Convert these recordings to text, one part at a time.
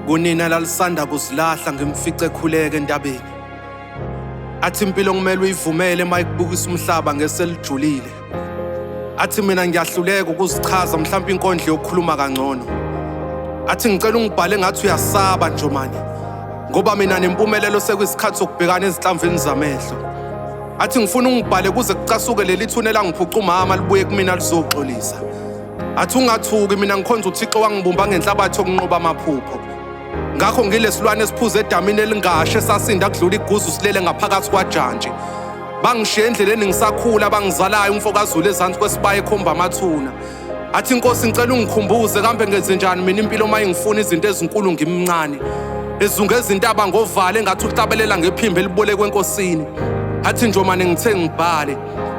kunina lalisanda kuzilahla ngimfice ekhuleke endabeni athi impilo kumele uyivumele uma ikubukisa umhlaba ngeselijulile athi mina ngiyahluleka ukuzichaza mhlawumbe inkondlo yokukhuluma kangcono athi ngicela ungibhale ngathi uyasaba njomane ngoba mina nempumelelo sekuyisikhathi sokubhekana ezinhlamvini zamehlo athi ngifuna ungibhale kuze kucasuke leli thuna elangiphuca umama libuye kumina lizoxolisa athi ungathuki mina ngikhonza uthixo wangibumba ngenhlabathi yokunqoba amaphupho ngakho ngilesilwane esiphuza edamini elingashe sasinda kudlula iguzu silele ngaphakathi kwajantshi bangishiya endleleni ngisakhula bangizalayo umfokazulu ezansi kwesibaya ekhomba amathuna athi inkosi ngicela ungikhumbuze kambe ngenze njani mina impilo uma ingifuna izinto ezinkulu ngimncane ezunge ezintaba ngovale engathi uhlabelela ngephimbo elibolekwe enkosini athi njomane ngithe ngibhale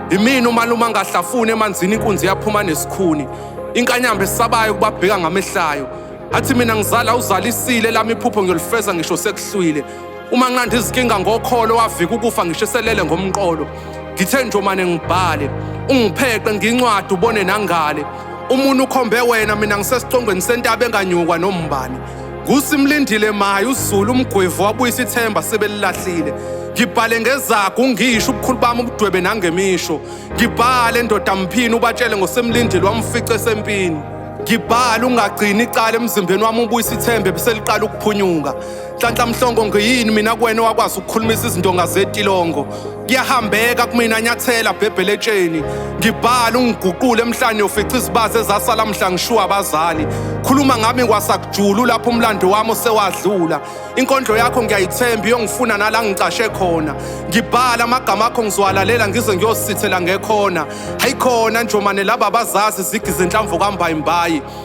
imina umalume angahlafuni emanzini inkunzi yaphuma nesikhuni inkanyamba esabayo kubabheka ngamehlayo athi mina ngizala uzalisile lami iphupho ngiyolifeza ngisho sekuhlwile Uma nginqanda izinkinga ngokholo wavika ukufa ngishiselele ngomqolo. Ngithe njomane ngibhale, ungipheqe ngincwadi ubone nangale. Umuntu ukhombe wena mina ngisesicongweni sentaba enganyukwa nombani. Kusimlindile maye uZulu umgwevu wabuyisa ithemba sebelilahlile. Ngibhale ngezagu ngisho ubukhulu bami ubudwebe nangemisho. Ngibhale ndoda mphini ubatshele ngosemlindile wamfice sempini. Ngibhala ungagcini icala emzimbeni wami ubuyisa ithembe beseliqala ukuphunyuka. Nhlanhla Mhlongo ngiyini mina kuwena wakwazi ukukhulumisa izindonga zetilongo kuyahambeka kumina nyathela bhebhele etsheni ngibhala ungiguqule emhlanje ufica izibazi ezasala mhla ngishuwa abazali khuluma ngami kwasakujulu lapho umlando wami osewadlula inkondlo yakho ngiyayithemba iyongifuna nala ngicashe khona ngibhala amagama akho ngizowalalela ngize ngiyosithela ngekhona hayikhona njomane laba bazazi zigi zenhlamvu kambayimbayi